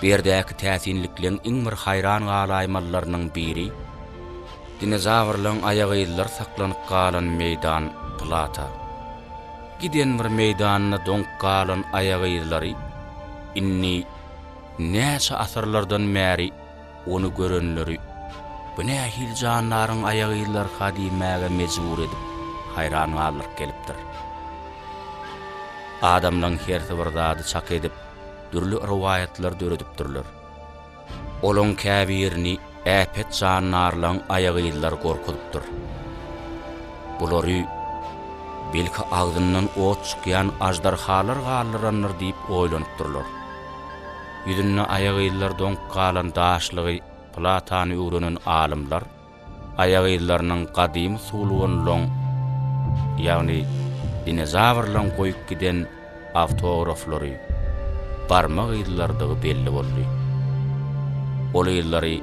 Bu ýerdäki täsinlikleň iň bir haýran galaýmalylarynyň biri, dinozawrlaryň aýagyzlary saklanyp galan meýdan Plata. Giden bir meýdanda doňup galan aýagyzlary indi näçe asyrlardan bäri Ony görenleri Bu nähili jandaryň aýagyzlarka diýmäge mejbur edip, haýran galdyryp gelipdir. Adamlaň hersi bir zady çak edip, dürli rowaýatlar döredipdirler. Olaň käbirini äpet jandarlaň aýagyzlary gorkuzypdyr. Bulary, belki, agzyndan ot çykýan aždarhalar galdyrandyr diýip oýlanypdyrlar. Ýüzünde aýagyzlar doňup galan daşlygy platany öwrenen alymlar aýagyzlarynyň gadymy suwulganlaryň, ýagny dinozawrlaryň goýup giden awtograflary, barmak yzlarydygy belli boldy. Ol yzlary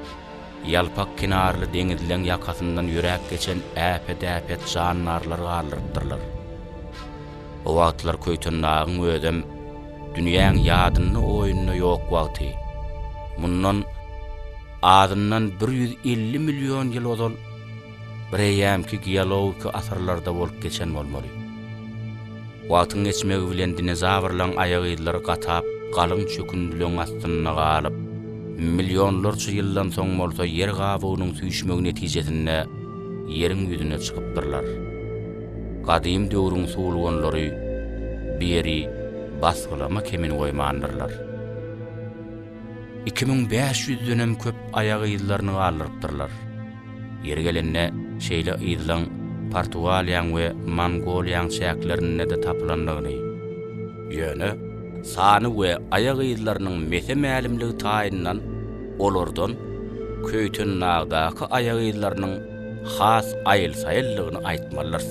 ýalpak kenarly deňizleň ýakasyndan ýöräp geçen äpet-äpet jandarlar galdyrypdyrlar. O wagtlar Köýtendagyň özem dünýäň ýadynda-oýunda ýok wagty, mundan azyndan bir ýüz elli million ýyl ozal bireýýämki geologiki asyrlarda bolup geçen bolmaly. Wagtyň geçmegi bilen dinozawrlaň aýak yzlary gatap, galyň çökündileň astynda galyp, millionlarça ýyldan soň bolsa ýer gabygynyň süýşmegi netijesinde Ýeriň ýüzüne çykypdyrlar. Gadym döwrüň suwulganlary bu ýeri basgylama kemin goýmandyrlar. Iki müň bäş ýüzdenem köp aýak yzlaryny galdyrypdyrlar. Ýeri gelende şeýle yzlaň Portugaliýaň we Mongoliýaň çäklerinde-de tapylandygyny, ýöne sany we aýak yzlarynyň mese-mälimligi taýyndan olardan Köýtendagydaky aýak yzlarynyň has aýyl-saýyldygyny aýtmalydyrys.